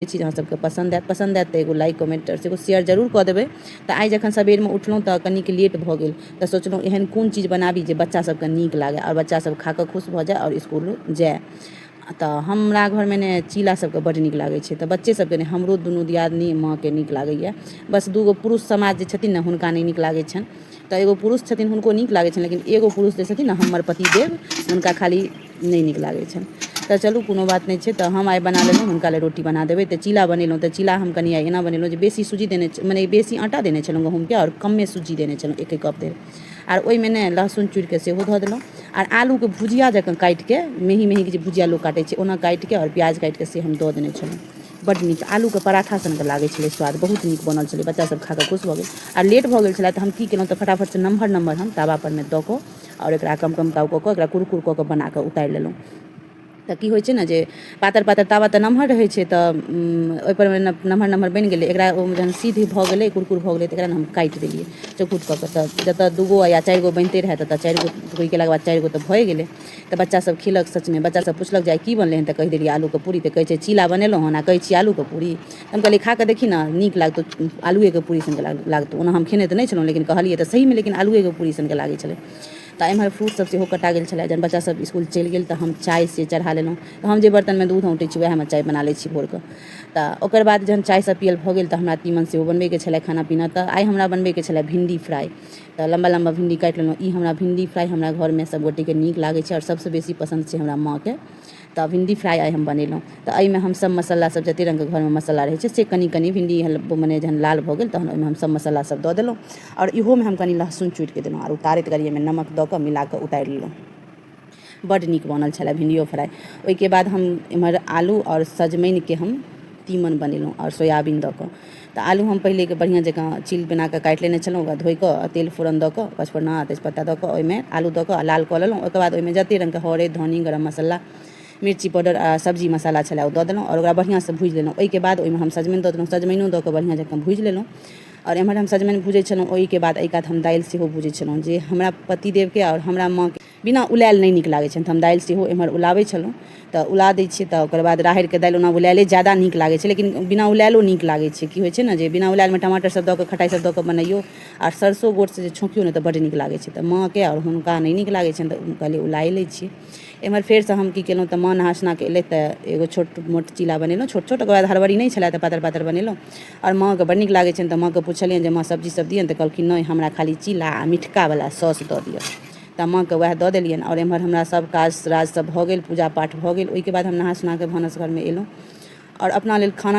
छी जे अहाँ सबके पसन्द आएत पसन्द आएत तऽ एगो लाइक कमेन्ट आओर एगो शेयर जरूर कऽ देबै तऽ आइ जखन सबेरमे उठलहुँ तऽ कनिक लेट भऽ गेल तऽ सोचलहुँ एहन कोन चीज बनाबी जे बच्चा सबके नीक लागै आओर बच्चा सब खाकऽ खुश भऽ जाइ आओर इसकुल जाइ तऽ हमरा घरमे ने चीला सबके बड्ड नीक लागै छै तऽ बच्चे सबके नहि हमरो दुनू दियादनी माँके नीक लागैए बस दूगो पुरुष समाज जे छथिन ने हुनका नहि नीक लागै छनि तऽ एगो पुरुष छथिन हुनको नीक लागै छनि लेकिन एगो पुरुष जे छथिन ने हमर पतिदेव हुनका खाली नहि नीक लागै छनि तऽ चलू कोनो बात नहि छै तऽ हम आइ बना लेलहुँ हुनका लेल रोटी बना देबै तऽ चीला बनेलहुँ तऽ चीला हम कनि आइ एना बनेलहुँ जे बेसी सूजी देने छलहुँ मने बेसी आटा देने छलहुँ गहूमके आओर कमे सूजी देने छलहुँ एके कप धरि आओर ओहिमे ने लहसुन चूड़िके सेहो धऽ देलहुँ आओर आलूके भुजिया जकाँ काटिके मेही मेही जे भुजिया लोक काटै छै ओना काटिके आओर प्याज काटिके से हम दऽ देने छलहुँ बड्ड नीक आलूके पराठा सनके लागै छलै स्वाद बहुत नीक बनल छलै बच्चासभ खा कऽ खुश भऽ गेल आओर लेट भऽ गेल छलै तऽ हम की केलहुँ तऽ फटाफटसँ नम्हर नम्हर हम तावापर मे दऽ कऽ आओर एकरा कम कम ताव कऽ कऽ एकरा कुरकुर कऽ कऽ बनाकऽ उतारि लेलहुँ तऽ की होइ छै ने जे पातर पातर तावा तऽ नमहर रहै छै तऽ ओहिपर मे नमहर नमहर बनि गेलै एकरा ओ जहन सिद्ध भऽ गेलै कुरकुर भऽ गेलै तऽ एकरा ने हम काटि देलियै चौकुर कऽ कऽ तऽ जतऽ दू गो या चारि गो बनिते रहै ततऽ चारि गो धोइ केलाके बाद चारि गो तऽ भए गेलै तऽ बच्चा सब खेलक सचमे बच्चा सब पुछलक जे आइ की बनलै हँ तऽ कहि देलियै आलूके पूरी तऽ कहै छै चीला बनेलहुँ हन आओर कहै छियै आलूके पूरी हम कहलियै खा कऽ देखी ने नीक लागतौ आलुएके पूरी सनक लागतौ ओना हम खेने तऽ नहि छलहुँ लेकिन कहलियै तऽ सहीमे लेकिन आलुएके पूरी सनक लागै छलै तऽ एम्हर फ्रूटसभ सेहो कटा गेल छलै जहन बच्चासभ इसकुल चलि गेल तऽ हम चाय से चढ़ा लेलहुँ तऽ हम जे बर्तनमे दूध औँटै छी उएहमे चाय बना लै छी भोरके तऽ ओकर बाद जहन चायसभ पियल भऽ गेल तऽ हमरा तीमन सेहो बनबैके छलै खाना पीना तऽ आइ हमरा बनबैके छलै भिंडी फ्राइ तऽ लम्बा लम्बा भिंडी काटि लेलहुँ ई हमरा भिंडी फ्राइ हमरा घरमे सभगोटेके नीक लागै छै आओर सभसँ बेसी पसन्द छै हमरा माँके तऽ भिण्डी फ्राइ आइ हम बनेलहुँ तऽ एहिमे हम सभ मसाला सभ जतेक रङ्गके घरमे मसाला रहै छै से कनि कनि भिण्डी मने जहन लाल भऽ गेल तहन ओहिमे हम सभ मसाला सभ दऽ देलहुँ आओर इहोमे हम कनि लहसुन चुटिके देलहुँ आओर उतारैत काल एहिमे नमक दऽ कऽ मिला कऽ उतारि लेलहुँ बड्ड नीक बनल छलै भिण्डियो फ्राइ ओहिके बाद हम एम्हर आलू आओर सजमनिके हम तीमन बनेलहुँ आओर सोयाबीन दऽ कऽ तऽ आलू हम पहिलेके बढ़िआँ जकाँ चील बनाकऽ काटि लेने छलहुँ ओकरा धोइकऽ आओर तेल फोरन दऽ कऽ पचफोरना आओर तेजपत्ता दऽ कऽ ओहिमे आलू दऽ कऽ आओर लाल कऽ लेलहुँ ओहिके बाद ओहिमे जतेक रङ्गके हरैद धन्नी गरम मसल्ला मिरची पाउडर आओर सब्जी मसल्ला छलै ओ दऽ देलहुँ आओर ओकरा बढ़िआँसँ भुजि लेलहुँ ओहिके बाद ओहिमे हम सजमनि दऽ देलहुँ सजमनिओ दऽ कऽ बढ़िआँ जकाँ भुजि लेलहुँ आओर एम्हर हम सजमनि भुजै छलहुँ ओहिके बाद एहि कात हम दालि सेहो भुजै छलहुँ जे हमरा पतिदेवके आओर हमरा माँके बिना उलाएल नहि नीक लागै छनि तऽ हम दालि सेहो एमहर उलाबै छलहुँ तऽ उला दै छियै तऽ ओकर बाद राहैरके दालि ओना उलाएले जादा नीक लागै छै लेकिन बिना उलाएलो नीक लागै छै की होइ छै ने जे बिना उलाएलमे टमाटर सब दऽ कऽ खटाइ सब दऽ कऽ बनैयो आओर सरसो गोटसँ जे छौंकियो ने तऽ बड्ड नीक लागै छै तऽ माँके आओर हुनका नहि नीक लागै छनि तऽ हम कहलियै उलाए लै छियै एमहर फेरसँ हम की केलहुँ तऽ माँ नहा सुना कऽ एलथि तऽ एगो छोट मोट चीला बनेलहुँ छोट छोट ओकर बाद हड़बड़ी नहि छलै तऽ पातर पातर बनेलहुँ आओर माँके बड्ड नीक लागै छनि तऽ माँके पुछलियनि जे माँ सब्जी सब दिअ ने तऽ कहलखिन नहि हमरा खाली चीला आओर मिठकावला सौस दऽ दिअ तऽ माँके वएह दऽ देलियनि आओर एम्हर हमरा सभ काज राज सभ भऽ गेल पूजा पाठ भऽ गेल ओहिके बाद हम नहा सुना कऽ भानस घरमे एलहुँ आओर अपना लेल खाना